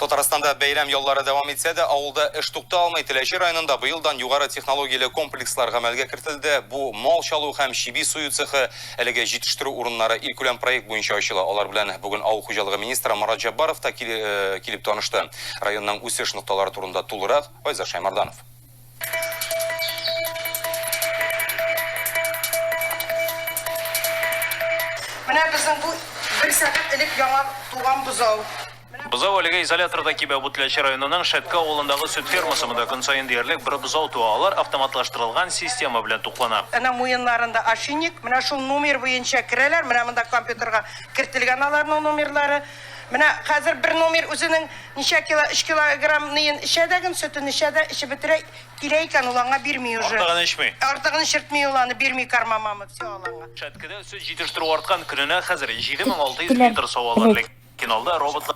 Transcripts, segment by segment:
Татарстанда бәйрәм яллары дәвам итсә дә, авылда эш тукта алмый. Теләче районында быелдан югары технологияле комплекслар гамәлгә кертелде. Бу мал чалу һәм чиби сую цехы, әлеге җитештерү урыннары илкүләм проект буенча ачыла. Алар белән бүген авыл хуҗалыгы министры Марат Җаббаров та э, килеп танышты. Районның үсеш нокталары турында тулырак Айза Шаймарданов. Менә безнең бу бер сәгать элек яңа туган бозау. Бозау әлегә изоляторда кибә, бу Теләче районының Шәтке авылындагы сөт фермасы, монда көн саен диярлек бер бозау туа, алар автоматлаштырылган система белән туклана. Әнә муеннарында ошейник, менә шул номер буенча керәләр, менә монда компьютерга кертелгән аларның номерлары. Менә хәзер бер номер үзенең ничә кило, өч килограмм ныен эчә дә ген, сөтен эчә дә, эчеп бетерә, килә икән, ул аңа бирми уже. Артыгын эчми. Артыгын эчертми ул аны, бирми карма мама, все ул аңа. Шәткедә сөт җитештерү арткан, көненә хәзер 7600 литр савалар, ләкин алда роботлар.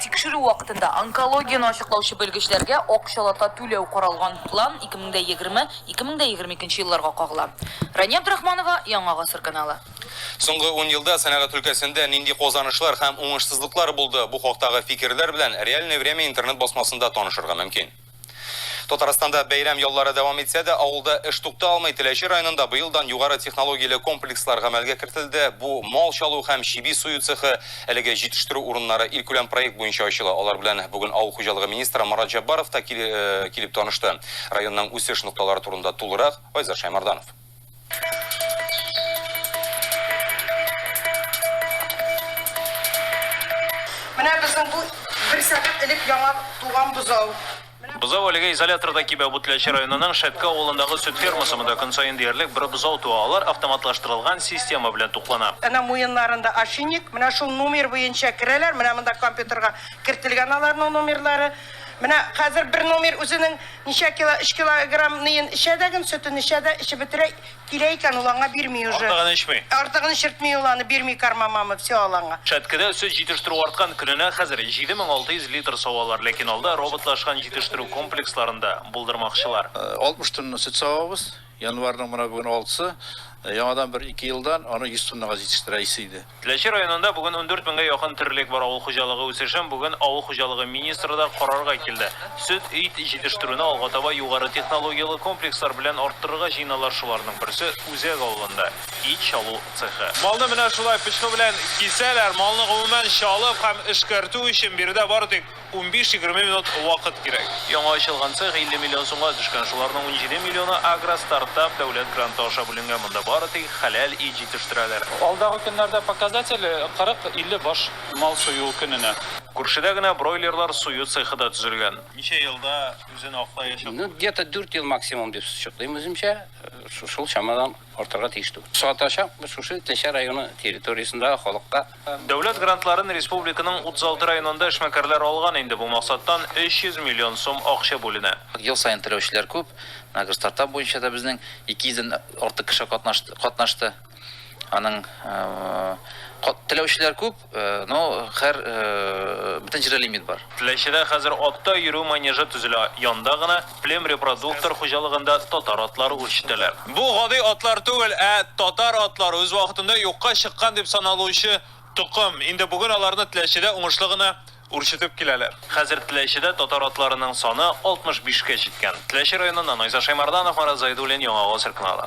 Тикшерү вакытында онкологияне ачыклаучы белгечләргә акчалата түләү каралган план 2020, 2022 елларга кагыла. Рания Абдрахманова, Яңа гасыр каналы. Соңгы ун елда сәнәгать өлкәсендә нинди казанышлар һәм уңышсызлыклар булды, бу хактагы фикерләр белән Реальное время интернет-басмасында танышырга мөмкин. Татарстанда бәйрәм яллары дәвам итсә дә, авылда эш тукта алмый. Теләче районында быелдан югары технологияле комплекслар гамәлгә кертелде. Бу, мал чалу һәм чиби сую цехы, әлеге җитештерү урыннары илкүләм проект буенча ачыла. Алар белән бүген авыл хуҗалыгы министры Марат Җәббаров та килеп танышты. Районның үсеш нокталары турында тулырак, Айзат Шәймарданов. Менә безнең бу бер сәгать элек яңа туган бозау. Бозау әлегә изоляторда кибә, Бутлячы районының Шәтке авылындагы сөт фермасы, монда көн саен диярлек бер бозау туа, алар автоматлаштырылган система белән туклана. Әнә муеннарында ошейник, менә шул номер буенча керәләр, менә монда компьютерга кертелгән аларның номерлары. Менә хәзер бер номер үзенең. Ничә кило, өч килограмм ныен эчә дә ген, сөтен эчә дә, эчеп бетерә, килә икән, ул аңа бирми уже. Артыгын эчми. Артыгын эчертми ул аны, бирми корма мамы, все ул аңа. Шәткедә сөт җитештерү арткан, көненә хәзер 7600 литр савалар, ләкин алда роботлашкан җитештерү комплексларында булдырмакчылар. 60 тонна сөт савабыз. Январьның менә бүген алтысы, яңадан бер ике елдан аны 100 тоннага җитештерә исе иде. Теләче районында бүген ундүрт меңгә якын терлек бар. Авыл хуҗалыгы үсешен бүген авыл хуҗалыгы министры да карарга килде. Сөт, ит җитештерүне алга таба югары технологияле комплекслар белән арттырырга җыеналар, шуларның берсе, Үзәк авылында, ит чалу цехы. Малны менә шулай пычкы белән кисәләр. Малны гомумән чалып һәм эшкәртү өчен биредә бары тик. Унбиш-егерме минут вакыт кирәк. Яңа ачылган цех 50 миллион сумга төшкән, шуларның унҗиде миллионы Агростартап дәүләт гранты аша бүленгән, монда бары тик хәләл ит җитештерәләр. Алдагы көннәрдә показатель, 40-50 баш мал сую көненә. Күршедә генә бройлерлар сую цехы да төзелгән. Ничә елда үзен аклаячак? Ну, где-то дүрт ел максимум дип чыклыйм үземчә, шул чамадан. артырга тиеш түгел. Сатачак шушы Теләче районы территориясендә халыкка. Дәүләт грантларын республиканың 36 районында эшмәкәрләр алган инде, бу максаттан 300 миллион сум акча бүленә. Ел саен теләүчеләр күп, менә гер стартап буенча да безнең 200 дән артык кеше катнашты. Аның теләүчеләр күп. Ну, хәр, бөтен җирдә лимит бар. Теләчедә хәзер атта йөрү манежы төзелә, янда гына, Плем репродуктор хуҗалыгында татар атлары үрчетәләр. Бу гади атлар түгел, ә татар атлары, үз вакытында юкка чыккан дип саналучы токым. Инде бүген аларны Теләчедә уңышлы гына үрчетеп киләләр. Хәзер Теләчедә татар атларының саны 65 кә җиткән. Теләче районыннан Айза Шәймарданов, Марат Зайдуллин, Яңа Гасыр каналы.